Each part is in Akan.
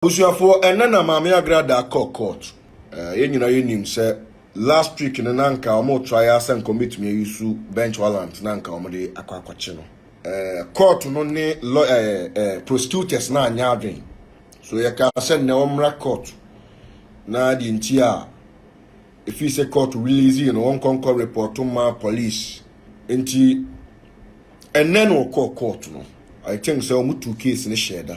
Abusuafoɔ ɛnɛ na maame agrada kɔ court eh, yɛn nyinaa yɛnim sɛ last week no na nka wɔn try ara sɛ nka wɔbɛtumi ayi su bench warrant na nka wɔn de akɔ akɔkye no eh, court no ne law eh, eh, prosecutors na anyɛ adwen so yɛka sɛ nnɛ wɔmmra court na deɛ nti a ɛfiri sɛ court release no wɔnkɔnkɔ report ma police nti ɛnɛ na wɔkɔɔ court no I think sɛ wɔn tu case no hyɛ da.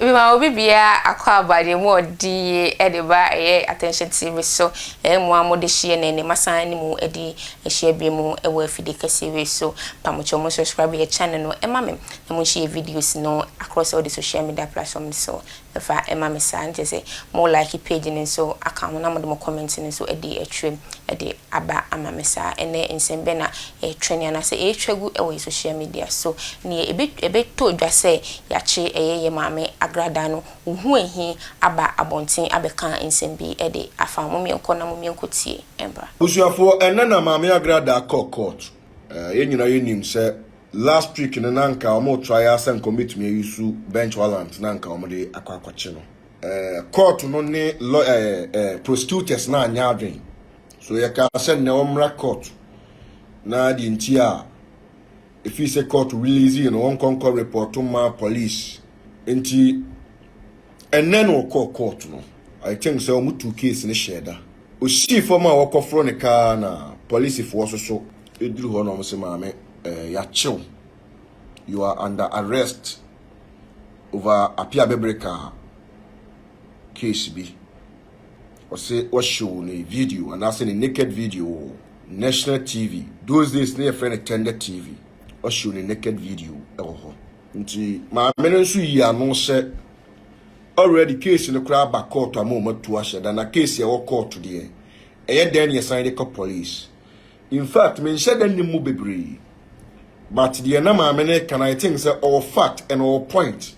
Mema obi biara akwaaba deɛ mu a ɔde yie de ba ɛyɛ Attention TV so. Ɛyɛ mo a mode hyia na ɛnnɛ masan ne mo adi ahyia bio mo wɔ afidie kɛseɛ wei so. Mpamokyɛw mo subscribe yɛ channel no ma me na mo nhyɛ yɛ videos no across all the social media platform no so mfa ma me saa. Nkyɛ sɛ mo like page no nso aka ho na mode mo comment no nso adi atwam de aba ama me saa. Ɛnnɛ nsɛm bɛ na ɛretwɛn anaasɛ ɛretwa gu wɔ yɛn social media so. Nea ɛbɛ ɛbɛtɔ dwa sɛ yɛakye ɛyɛ yɛn maame agradaa no, wo ho ahi aba abɔnten abɛka nsɛm bi de afa. Mommeɛnkɔ na mommeɛnkɔ tie mmra. Abusuafoɔ ɛnnɛ na maame agradaa kɔɔ court. Eh, yɛn nyinaa yɛnim sɛ last week no na anka wɔn retrae ara sɛ anka wɔn bɛtumi a use bench warrant na anka wɔn de akɔ akɔkye no. Eh, court no ne law eh, eh, prosecutors no anyɛ adwene So yɛkaa sɛ nnɛ ɔmmra court na deɛ nti a ɛfii sɛ court release no wɔnkɔnkɔ report ma police nti ɛnnɛ na ɔkɔɔ court no I think sɛ wɔn tu case no hyɛɛ da osii fam a wɔkɔforo ne kaa na polisifoɔ so so ɛduru hɔ na wɔn sɛ maame eh, yɛakyew you are under arrest over apia bɛbere kaa case bi Ɔse wɔhyew ne video anaasɛ ne naked video wɔ national TV. Those days na yɛfrɛ no tender TV. Ɔhyew ne naked video wɔ hɔ. Nti maame no nso yi ano sɛ already case no koraa aba kɔɔto ama wɔatu ahyɛ da na case a ɛwɔ kɔɔto deɛ ɛyɛ dɛn na yɛsan de kɔ police. In fact, menhyɛ da nnim mu bebree. But deɛ na maame no reka no, I think sɛ ɔwɔ fact and ɔwɔ point.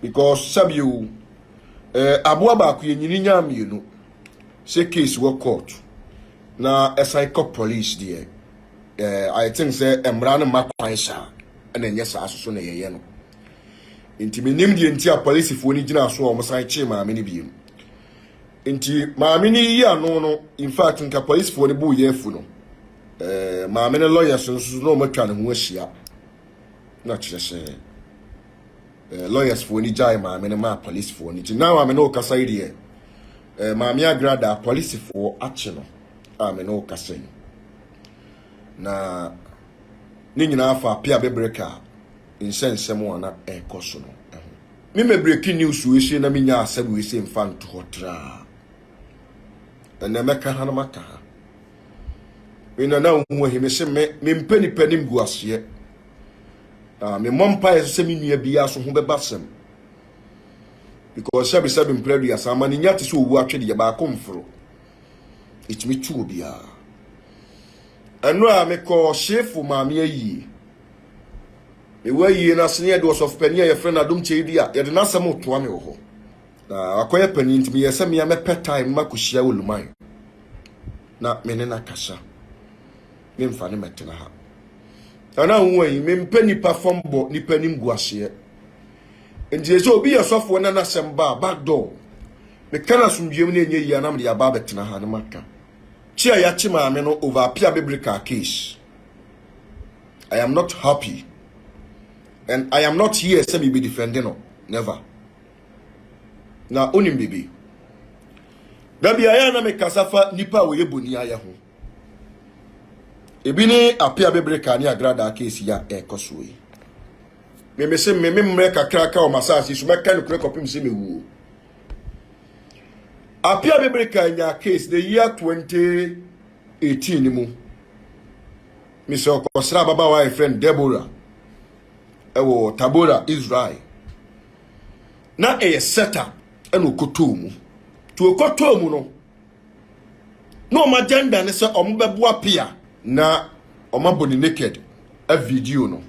Because sɛbi o, eh, aboa baako yɛnyini nyaa mmienu. Sɛ case wɔ court na ɛsan kɔ police deɛ, eh, I think sɛ mmara no mma kwan saa ɛna ɛnyɛ saa soso na yɛyɛ no. Nti menim deɛ nti a polisifoɔ no gyina so a wɔsan kyee maame no biom. Nti maame no yiyi ano no infact nka polisfoɔ no bo yɛ afu no eh, maame no lawyers no nso na wɔn atwa ne ho ahyia na kyerɛ sɛ eh, lawyerfoɔ no gyae maame no maa polisfoɔ no nti na maame no ɔkasa yi deɛ eh, maame agrada polisfoɔ akye no a me no ɔkasa yi na ne nyinaa fa apia bebreka nhyɛ nsɛm a na ɛrekɔ so no ho. Me mɛbreki news weesei na menya asɛm weesei mfa nto hɔ traa. Ɛnɛ mɛka ha na maka ha. Me nana nhu ahi me se me mempɛ nipa nim gu aseɛ. Na me mmɔ mpaeɛ sɛ me nua biara so ho bɛba sɛm. Because sɛbi sɛbi mpere aduasa ama ne nya te sɛ owu atwedeɛ baako mforo. Ɛtumi tu obiara. Ɛno a mekɔ hyefo maame ayie. Ewu ayie no ase ne yɛde ɔsɔfo panyin a yɛfrɛ no Adom Kyei di a yɛde n'asɛm retoa me wɔ hɔ. Na wakɔyɛ panyin nti meyɛɛ sɛ mea mɛpɛ tae no makɔhyia wɔ Luman na me ne no akasa. Memfa ne mɛtena ha. Ana nwonwa yi, mempɛ nipa fam bɔ nipa anim gu aseɛ. Nti sɛ obi yɛ sɔfoɔ na n'asɛm ba a back door meka no asomdwoeɛ mu na ɛnyɛ yie a na mede aba abɛtena ha na maka. Kye a yɛakye maame no over apia bebere kaa case. I am not happy. And I am not here sɛ me be defending no. Never. Na onim bibi. Da bi ayɛ na me kasa fa nipa a wɔyɛ boni ayɛ ho. Ebi ne ape a bebere ka ne agrada keesi ya ɛkɔ so yi. Me me se me me mmerɛ kakra ka wɔ masaase so mɛka no kura kɔpem sɛ mewuo. Ape a bebere ka nya case the year 20 18 no mu, mesɛ ɔkɔsra ababaawa a yɛfrɛ no Deborah ɛwɔ Tabora, Israel. Na ɛyɛ sɛta ɛna ɔkɔtɔɔ mu. Nti ɔkɔtɔɔ mu no, na wɔn agenda ne sɛ wɔbɛboa pia na wɔabɔ ne naked a video no.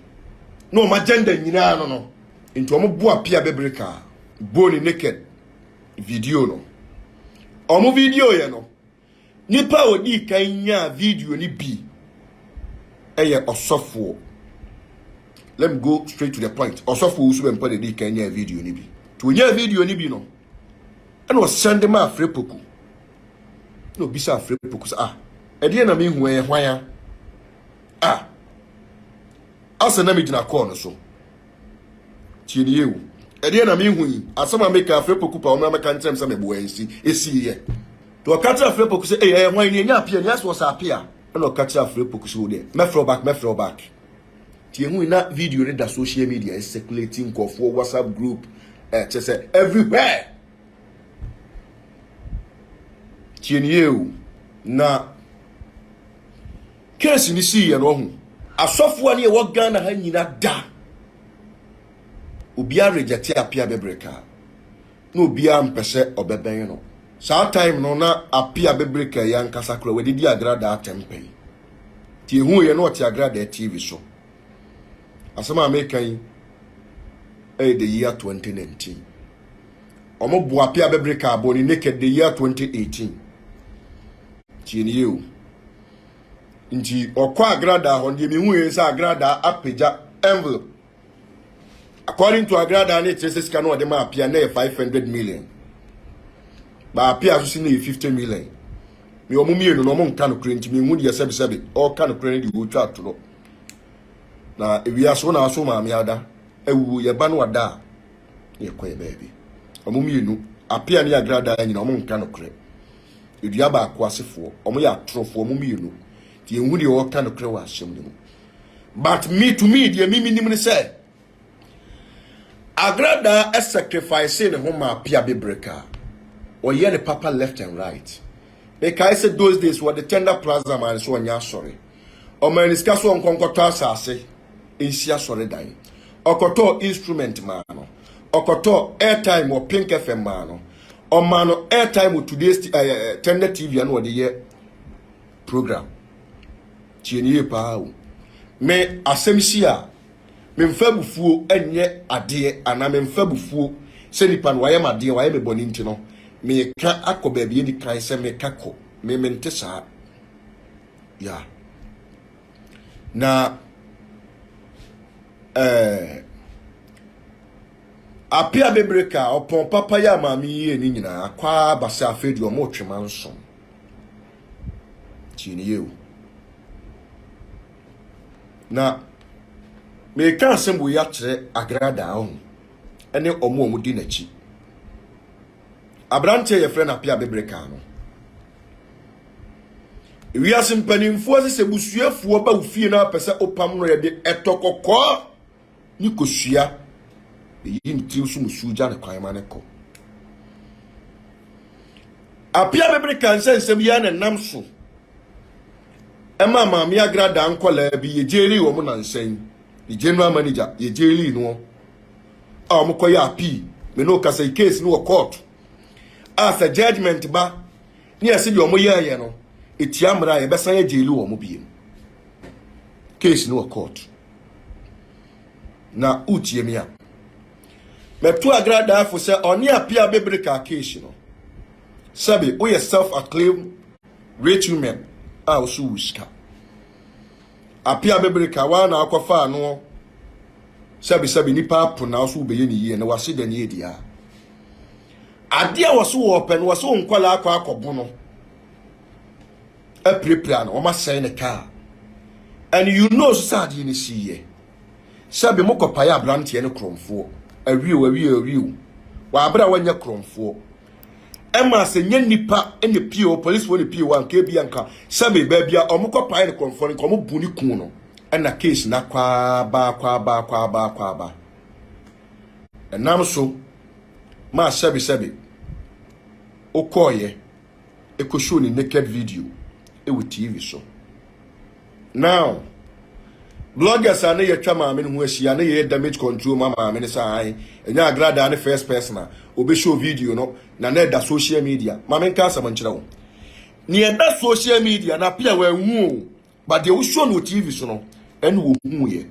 Na wɔn agenda nyinaa no no, nti wɔboa pia bɛbere kaa, bɔɔ ne naked video no. Wɔn video yɛ no, Nipa a odii kan nyaa video no bi yɛ ɔsɔfoɔ. Let me go straight to the point. Ɔsɔfoɔ wusu bɛmpa na edii kan nyaa video no bi. To onyaa video no bi no, ɛna ɔsan de ma afre poku. Na obisa afre poku sɛ, ah, ɛdeɛ na mehu ɛyɛ hwan a? Ah, asɛ na megyina kɔɔ no so. Tie nie o. Ɛdeɛ na mehu yi, asɛm a meka afei poku pa ɔmmra mɛka nkyɛm sɛ meboa ɛnsi, ɛsiiɛ. Nti ɔka kyerɛ afei poku sɛ, ɛyɛ ɛyɛ hwan ni ɛnyɛ apia ni asɛ ɔsɛ apia. Ɛna ɔka kyerɛ afei poku sɛ o deɛ, mɛfrɛ wo back, mɛfrɛ wo back. Nti ɛhu yi na video no da social media, ɛsɛkulati nkɔfoɔ, whatsapp group, ɛkyɛ sɛ everywhere. Tie nie o. Na. Case no siiɛ no ɔho. Asɔfo a ne yɛwɔ Ghana ha nyina da obiara rejɛte apia bebree kaa na obiara mpɛ sɛ ɔbɛbɛn no saa time no na apia bebree kaa yi ankasa kora wɔde di agradaa tɛmpɛn ti ehu yɛ na ɔte agradaa tv so asɛm a meka yi ɛyɛ the year 2019 wɔn bo apia bebree kaa bɔ ne naked the year 2018 tie ne yɛ o nti ɔkɔ agradaa hɔ deɛ mehu yɛ sɛ agradaa apagya envelope according to agradaa ne kyerɛ sɛ sika no ɔde ma apia na yɛ five hundred million ba apia so si na yɛ fifty million me ɔmo mmienu na ɔmo nka no kure nti mehu deɛ sɛbisɛbi ɔka no kure ne deɛ ɔtwa atorɔ na ewia so na aso maame ada awuo yɛ ba no ada a yɛkɔ yɛ baabi ɔmo mmienu apia ne agradaa nyina ɔmo nka no kure. Dua baako asefoɔ, wɔn yɛ atorofoɔ, wɔn mmienu. Nti yɛnhu deɛ ɔreka nokorɛ wɔ asɛm no mu. But me to me deɛ me menim ne sɛ, Agradaa sacrifice ne ho maa Pia Bebreka. Ɔyɛ ne papa left and right. Mekae sɛ those days wɔde Tender Plaza maa no sɛ ɔnyɛ asɔre. Ɔmaa ne sika sɛ ɔnkɔ nkɔtɔ asase nsi asɔre dan. Ɔkɔtɔɔ instrument maa no. Ɔkɔtɔɔ airtime wɔ Pink FM maa no. ɔma no airtime wɔ today's t- ɛɛ eh, eh, tender tv ano ɔde yɛ program tie ne yie paa o me asɛm si a memfa abufuo nyɛ adeɛ anaa memfa abufuo sɛ nipa no wayɛ m adeɛ wayɛ me bɔne nti no meka akɔ baabi adi kan sɛ meka kɔ me mente saa ya na ɛɛ eh, Ape abebre kaa ɔpɔn papa yi a maame yi yɛɛ ne nyinaa akɔ ara aba sɛ afei deɛ wɔretwe mansom. Tie ne yie o. Na meka asɛm wei akyerɛ Agrada ɔho ne wɔn a wɔdi n'akyi. Aberanteɛ yɛfrɛ no Ape abebre kaa no. Wiase mpanimfoɔ sɛ sɛ busuafoɔ ba wo fie na apɛ sɛ wopam no yɛde ɛtɔ kɔkɔɔ. ne kosua na yiyi ne tirim so musuo gya ne kwan ma ne kɔ. Apia bebere ka nsɛ nsɛm yi a na nam so ɛma maame agrada nkɔlaa bi yɛ gyeli wɔn na nsɛn ne general manager yɛ gyeli noɔ a wɔn kɔ yɛ apii me no kasa yi case no wɔ court a sɛ judgement ba ne ɛsi deɛ wɔn yɛ yɛ no etia mmara yɛbɛsan yɛ gyeli wɔn biem. case no wɔ court na wotie me a mɛto agradaafo sɛ ɔne apia bɛbere kaa case no sɛbe woyɛ self acclaim rich women a woso wo sika apia bɛbere ka waa na akɔfa ano sɛbesɛbe nipa apo na woso wobɛyɛ ne yie na wase da ne adi a adeɛ a wɔso wɔpɛ no wɔso nkɔla akɔ akɔbo no apirapira no wɔasɛe ne kaa and you know nso sɛ adeɛ no siiɛ sɛ bi mo kɔpaeɛ aberanteɛ no korɔmfoɔ awie o awie awie o wɔabrɛ a wɔnyɛ korɔmfoɔ ɛma sɛ nyɛ nipa ne pie o polisi wɔ ne pie o anka ebi anka sɛ me baabi a wɔn kɔpaeɛ no korɔmfoɔ no nka wɔn bu ne kun no ɛna case na kwaaba kwaaba kwaaba kwaaba ɛnam so maa sɛbisɛbi wokɔɔyɛ kɔ show ne naked video wɔ TV so. Now, bloggers a ne yɛtwa maame no ho ahyia ne yɛyɛ damage control ma maame no sɛ ae ɛnyɛ agradaa ne first person a obɛhyɛ video no na na ɛda social media maame nka asɛm nkyerɛ wo nea ɛda social media na apia wɔahu o but deɛ wosuo no wɔ tv so no ɛna wɔhuu yɛ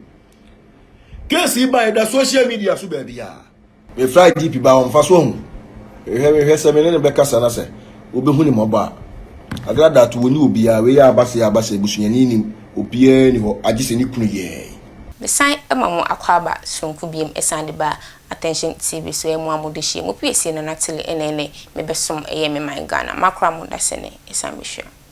case yi baeɛ da social media so baabi a mefra gp ba wɔmfa so ahu hwɛ mehwɛ sɛ me ne no bɛkasa na sɛ wobɛhu ne mmɔbɔ a agra dat wɔni obiara wei yɛ abasɛ abasɛ abusuani nim obiara ni hɔ agye sɛ ne kunu yɛɛ Mesan ma mo akwaaba soronko biom ɛsan de ba Attention TV so ɛmo a mo de hyia mo piesie Nana Tele ɛnɛ ɛnɛ me bɛ som ɛyɛ me man Ghana makora mo dasɛnɛ ɛsan bɛ hyira mo.